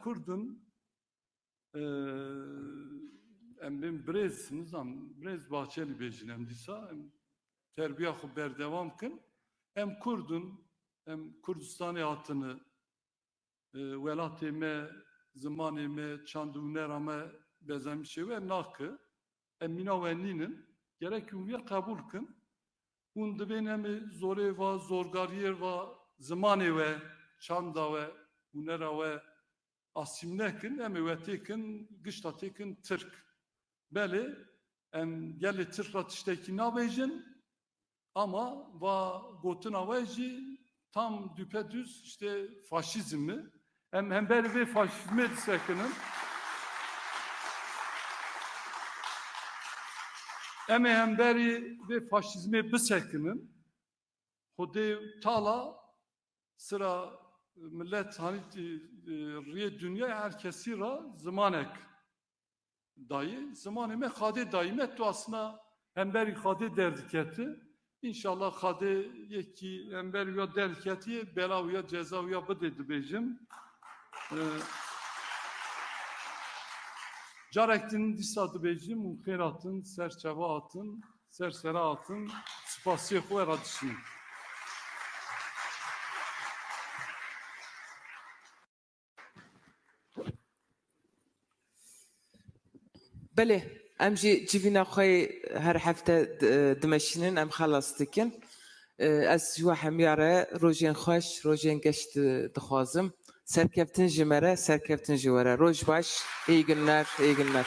Kurdin em bên birêz nizam birêz Bahçelî bêjin em dîsa em terbiya xwe berdewam kin em Kurdin em Kurdistanê hatine welatê me zimanê me çand û nera me bezemîşê we nake Em mîna we nînin. Gerek hûn wî qebûl kin. Hûn divên em ê zorê va, zorgariyê va zimanê we, çanda we, hûnera we asîmle kin. Em ê we tê kin, gişta tê kin tirk. Belê, em gelê tirk re tiştekî nabêjin, Ama va gotina we jî tam düpedüz işte faşizm e. Em hember vê faşizmê disekinin. Em ê hemberî vê faşizmê bisekinin. Xwedê tala sıra millet hanî riyê dünyayê her kesî ra zimanek Dayê zimanê me xadê dayî me tu asna hemberî xadê derdiketi İnşallah xadê yekî hember ya derketiye bela ya ceza ya bidê dibêjim. Ee, Carek din dîsa dibêjim û xêr hatin, ser çeva hatin, ser sera hatin, spasiyê xwe ra dişînim. Belê em jî civîna xwe yê her hefte dimeşînin em xelas dikin. Ez ji we hemiya re rojên xweş, rojên geş dixwazim. Serkeftin ji me re, serkeftin ji we re. Roj baş, îyi günler, îyi günler.